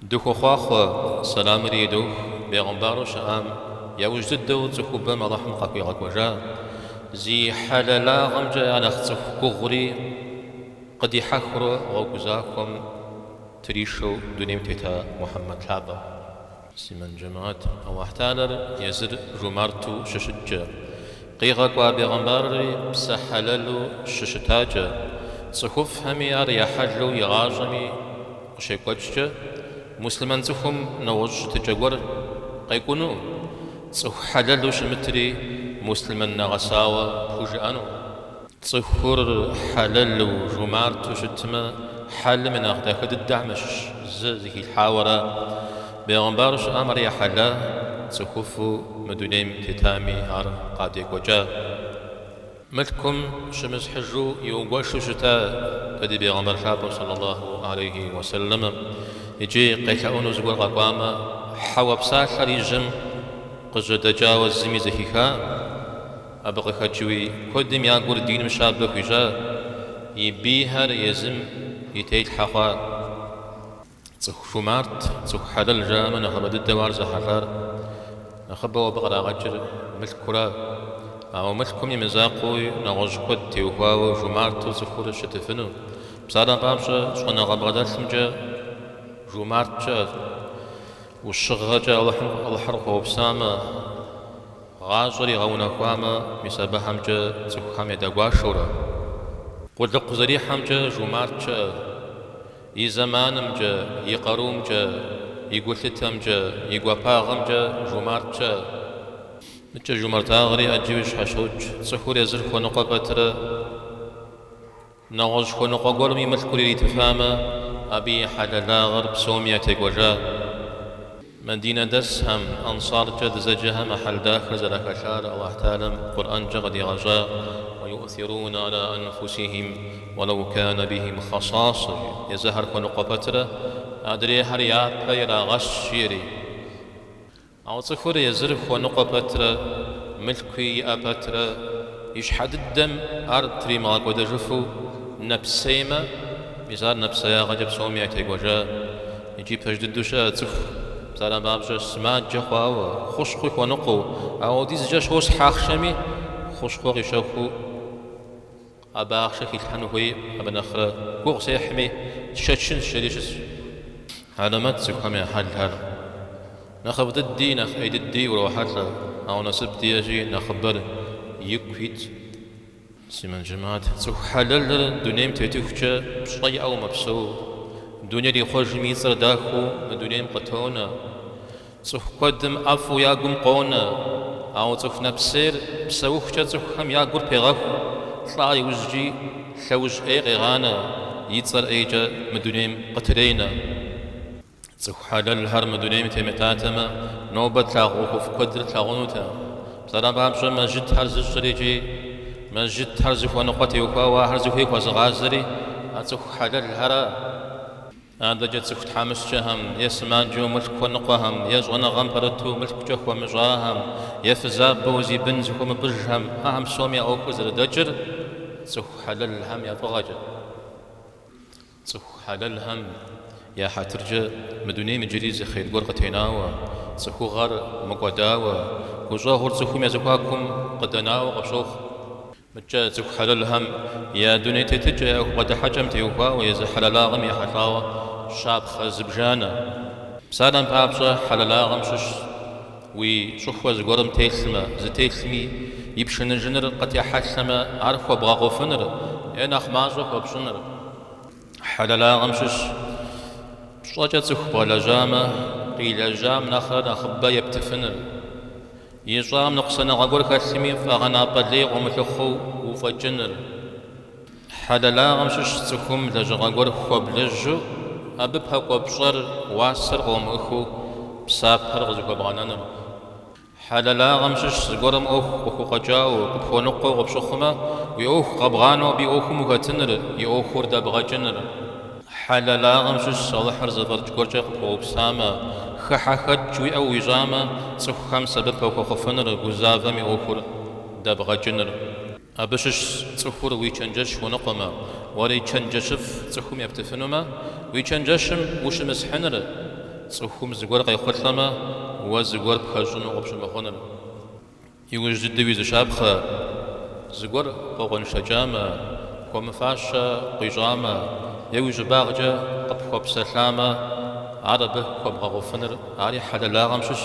Дыхуохъуахъуэ, сэламри идох бегъымбару щыӏам, яужь дыдэу цӏыхубэм Алыхьым къахуигъэкӏуэжа, зи хьэлэлагъэмкӏэ я нэхъ цӏыху гугъури къыдихьэхыурэ гъуэгу захуэм тришэу дунейм тета Мухьэммэд лъапӏэм. Муслъымэн джэмыхьэт, Алыхь Тхьэлэр езыр жумарту щыщыткӏэ, къигъэкӏуа бегъымбарри псэ хьэлэлу щыщытакӏэ, цӏыхуфӏхэми ар я хьэлу игъащӏэми, Къыщекӏуэкӏкӏэ, муслъымэн цӏыхум нэгъуэщӏ щытыкӏэ гуэр къекӏуну, цӏыху хьэлэлу щымытри муслъымэн нэгъэсауэ пхужыӏэну. Цӏыхур хьэлэлу, жумарту щытмэ, хьэлым и нэхъ дахэ дыдэхьэм ящыщ зы зыхилъхьауэ ара. Бегъымбар щыӏам ар я хьэла, цӏыхуфӏу мы дунейм тетами ар къадекӏуэкӏа. Мылъкум щымысхьыжу иугуэшу щытакъэ ди Бегъымбар Лъапӏэу сэллаллаху алейхи уэ сэллэм икӏи къелъэӏуну зыгуэр къэкӏуамэ, хьэуэ псалъэр и жьэм къыжьэдэкӏауэ зыми зэхихакъым. Абы къыхэкӏыуи куэдым я гур диным щабэ хуищӏат, и бийхэр езым и телъхьэ хъуат. Цӏыху жумарт, цӏыху хьэлэл жаӏэмэ нэхъыбэ дыдэу ар зэхьэлӏар. Нэхъыбэу абы къырагъэкӏыр мылъкура. Ауэ мылъкум и мызакъуэуи нэгъуэщӏ куэд теухуауэ жумарту цӏыхур щытыфыну. Псалъэм папщӏэ, щӏэныгъэ бгъэдэлъымкӏэ жумарт щыӏэ. Ӏущыгъэкӏэ Алыхьыр къыхуэупсамэ, гъащӏэр игъэунэхуамэ, мис абыхэмкӏэ цӏыхухэм ядэгуашэурэ. Къулыкъу зэрихьэмкӏэ жумарт щыӏэ. И зэманымкӏэ, и къарумкӏэ, и гулъытэмкӏэ, и гуапагъэмкӏэ жумарт щыӏэ. Нтӏэ жумартагъэри ӏэджэу зэщхьэщокӏ. Цӏыхур езыр хуэныкъуэ пэтрэ, нэгъуэщӏ хуэныкъуэ гуэрым и мылъкур иритыфамэ, абы и хьэлэлагъэр псоми ятекӏуэжа. Мадинэ дэсхэм, Ансаркӏэ дызэджэхэм а хьэл дахэр зэрахэлъар Алыхь Тхьэлэм Къурӏэнкӏэ къыдигъэщӏа уэ юӏсирунэ ӏэла ӏэнфусихьим уэлэу кэнэ бихьим хэсасэ жи, езыхэр хуэныкъуэ пэтрэ адрейхьэр япэ ирагъэщ жиӏэри. Ауэ цӏыхур езыр хуэныкъуэ пэтрэ мылъкуи иӏэ пэтрэ и щхьэ дыдэм ар тримыгъэкӏуэдэжыфу нэпсеймэ, мис ар нэпсеягъэкӏэ псоми ятекӏуэжа. Икӏи пэж дыдэу щыӏэ цӏыху псалъэм папщӏэ сымаджэ хъуауэ, хущхъуи хуэныкъуэу, апхуэдизкӏэ щосхь ахъшэми, хущхъуэ къищэхуу абы ахъшэ хилъхьэну хуей, абы нэхърэ гугъу сехьми, сшэчынщ жери щысщ. Хьэлэмэт цӏыхухэм я хьэлхэр. Нэхъыфӏ дыди, нэхъ ӏей дыди урохьэлӏэ, ауэ насып диэщи, нэхъыбэр ику ит. Муслъымэн жэмыхьэт, цӏыху хьэлэлыр дунейм тетыхукӏэ пщӏэ иӏэу мэпсэу, дунейр ихъуэжми и цӏэр дахэу мы дунейм къытонэ. Цӏыху куэдым ӏэфӏу я гум къонэ, ауэ цӏыху нэпсейр псэухукӏэ цӏыхухэм я гур пегъэху, лӏа иужькӏи лъэужь ӏей къегъанэ, и цӏэр ӏейкӏэ мы дунейм къытренэ. Цӏыху хьэлэлхэр мы дунейм темытатэмэ, нобэ тлъагъу ӏуэхуфӏ куэдыр тлъагъунутэкъым. Псалэ папщӏэ, мэжджытхэр зыщӏыр икӏи мэжджытхэр зыхуэныкъуэ теухуауэ ахэр зыхуей хуэзыгъазэри а цӏыху хьэлэлхэращ. Адэкӏэ цӏыху тхьэмыщкӏэхэм, е сымаджэу мылъку хуэныкъуэхэм, е щӏэныгъэм пэрыту мылъкукӏэ хуэмыщӏахэм, е фызабэу зи бын зыхуэмыпӏыжхэм, ахэм псоми я ӏуэхур зэрыдэкӏыр цӏыху хьэлэлхэм я фӏыгъэкӏэщ. Цӏыху хьэлэлхэм я хьэтыркӏэ мы дунейм иджыри зы хъер гуэр къытенауэ, цӏыхугъэр мыкӏуэдауэ, гущӏэгъур цӏыхум я зэхуакум къыдэнауэ къыщохъу. Мыдэкӏэ цӏыху хьэлэлхэм я дуней тетыкӏэ я ӏуэху бгъэдыхьэкӏэм теухуауэ езы хьэлэлагъэм ехьэлӏауэ щапхъэ зыбжанэ. Псалъэм папщӏэ, хьэлэлагъэм щыщщ Уи щӏыхуэ зыгуэрым телъмэ, зытелъми, и пшыныжыныр къытехьэлъэмэ, ар хуэбгъэгъуфыныр е нэхъ мащӏэ хуэпщӏыныр хьэлэлагъэм щыщщ. Пщӏэкӏэ цӏыху бгъэлэжьамэ, къилэжьам нэхърэ нэхъыбэ ептыфыныр. Ищӏам ныкъусаныгъэ гуэр хэлъми, фӏэгъэнапӏэ лей къыумылъыхъуэу уфӏэкӏыныр. Хьэлэлагъэм щыщщ цӏыхум лэжьыгъэ гуэр хуэблэжьу, абы пэкӏуэ пщӏэр, уасэр къыумыӏыхыу псапэр къызыхуэбгъэнэныр. Хьэлэлагъэм щыщщ зыгуэрым ӏуэху къыхукъуэкӏауэ, къыпхуэныкъуэу къыпщыхъумэ, уи ӏуэху къэбгъанэу абы и ӏуэхум ухэтыныр, и ӏуэхур дэбгъэкӏыныр. Хьэлэлагъэм щыщщ Алыхьыр зэфӏэкӏ гуэркӏэ къыпхуэупсамэ, хыхьэхэкӏ уиӏэу уищӏамэ, цӏыхухэм сэбэп уахуэхъуфыныр, гузавэм и ӏуэхур дэбгъэкӏыныр. Абы щыщщ цӏыхур уи чэнджэщ хуэныкъуэмэ, уэри чэнджэщыфӏ цӏыхум ептыфынумэ, уи чэнджэщым ущымысхьыныр, цӏыхум зыгуэр къехъулӏэмэ, уэ зыгуэр пхэщӏыну къыпщымыхъуныр. Иужь дыдэуи зы щапхъэ, зыгуэр къокъуэншэкӏамэ, хуэмыфащэ къуищӏамэ е уи щӏыбагъкӏэ къыпхуэпсэлъамэ, ар абы хуэбгъэгъуфыныр ари хьэлэлагъэм щыщщ,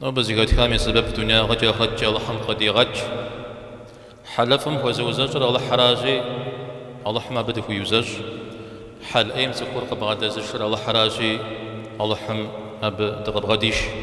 Нобэ зэхэтхам и сэбэп дунягъэкӏэ ахърэткӏэ Алыхьым къыдигъэкӏ. Хьэлыфӏым хуэзыузэщӏыр Алыхьращи, Алыхьым абы дыхуиузэщӏ. Хьэл ӏейм цӏыхур къыбгъэдэзышыр Алыхьращи, Алыхьым абы дыкъыбгъэдиш.